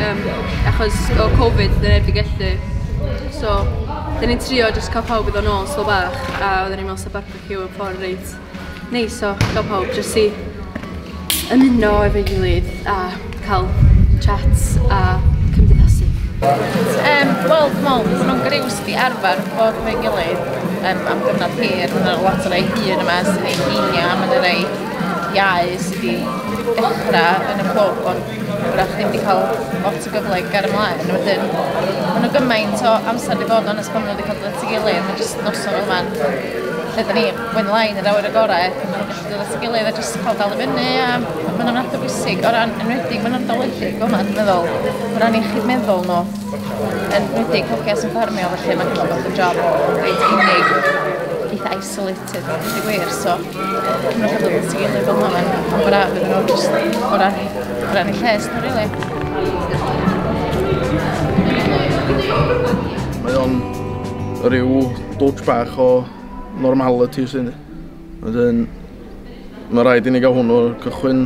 yym achos o covid odd e neb 'di gellu so 'dyn ni'n trio jyst ca'l pawb i ddod nôl swl bach a odden ni'n me'wl sa barbeciw yn ffor reit neis o ga'l pawb jyst i ymuno efo'i gilydd a ca'l chats a cymdeithasu. Yym wel dwi me'wl bod o'n griws i arfer bod efo'i gilydd yym am gyfnod hir ma' 'na lot o rei hŷn yma sy 'di heini a ma' 'na rei iau sy 'di dechra yn y clwb ond Dach chi ddim wedi cael lot o gyfle i gael ymlaen. Wedyn, mae nhw gymaint o amser wedi bod ond pan maen wedi cael dod at ei gilydd, mae jyst noson fel man. Lle da ni, when line yr awyr y gorau, pan maen nhw'n gallu dod at ei gilydd a jyst cael dal i fyny a maen nhw'n adeg bwysig o ran enwedig, maen nhw'n dolydig fel yma, dwi'n meddwl, o ran iechyd meddwl nhw. Enwedig hogia sy'n ffermio, felly mae'n gallu bod yn job reit unig, eitha isolated. Teg a deud y gwir, so cyfnod rhyfedd yn sgil neu fel yma, mae'n braf iddyn nhw jyst o ran, o ran y lles nhw, really. Mae o'n rhyw dwtch bach o normality sy'n ni. Wedyn, mae rhaid i ni gael hwnnw cychwyn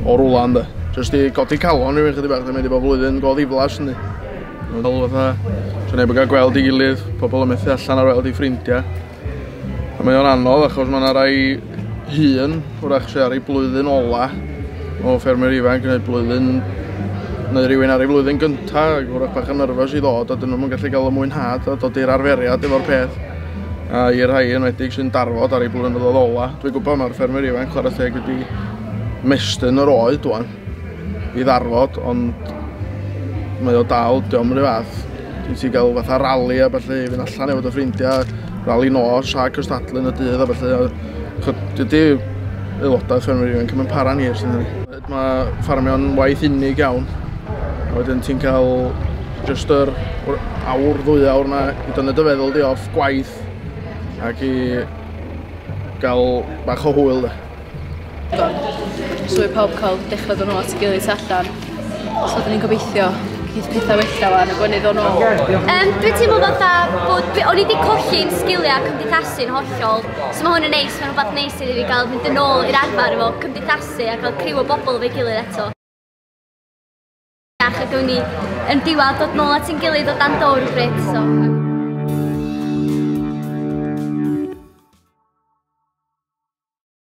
o rwla ynddo. Jyst i codi calon rhywun chydig bach, dwi'n mynd i bod flwyddyn go ddiflas ni. Fel fatha, sy'n neb yn cael gweld i gilydd, pobl yn methu allan ar weld i ffrindiau. Mae o'n anodd achos mae yna rai hun, wrach sydd ar ei blwyddyn ola o ffermwyr ifanc neu blwyddyn neu rhywun ar ei flwyddyn gynta ac wrach bach yn nyrfys i ddod a dyn nhw'n gallu cael y mwynhad a dod i'r arferiad efo'r peth a i'r rhai yn wedig sy'n darfod ar ei blwyddyn ola. Dwi'n gwybod mae'r ffermwyr ifanc chwarae teg wedi mestyn yr oed dwan. i ddarfod ond mae o dal, diolch yn fath. Dwi'n ti gael fatha rali a felly i fynd allan efo dy ffrindiau, rali nos a cystadlu yn y dydd a felly. Dydy aelodau ffermwyr ifanc yn para'n hir sy'n hynny. Mae ffarmio'n waith unig iawn. A wedyn ti'n cael just yr awr ddwy awr yna i dynu dy feddwl di off gwaith ac i gael bach o hwyl de. So mae pawb cael dechrau dod nôl at y gilydd tu allan. So dyn ni'n gobeithio geith pethau wella fan y gwenydd o'n ôl. Um, dwi'n teimlo fatha bod... O'n i wedi colli'n sgiliau cymdeithasu'n hollol. So mae hwn yn neis, mae'n rhywbeth neis i ni gael mynd yn ôl i'r arfer efo cymdeithasu a cael criw o bobl fe gilydd eto. Ac ydw ni yn diwad dod nôl at yn gilydd o dan dowr o bryd. So.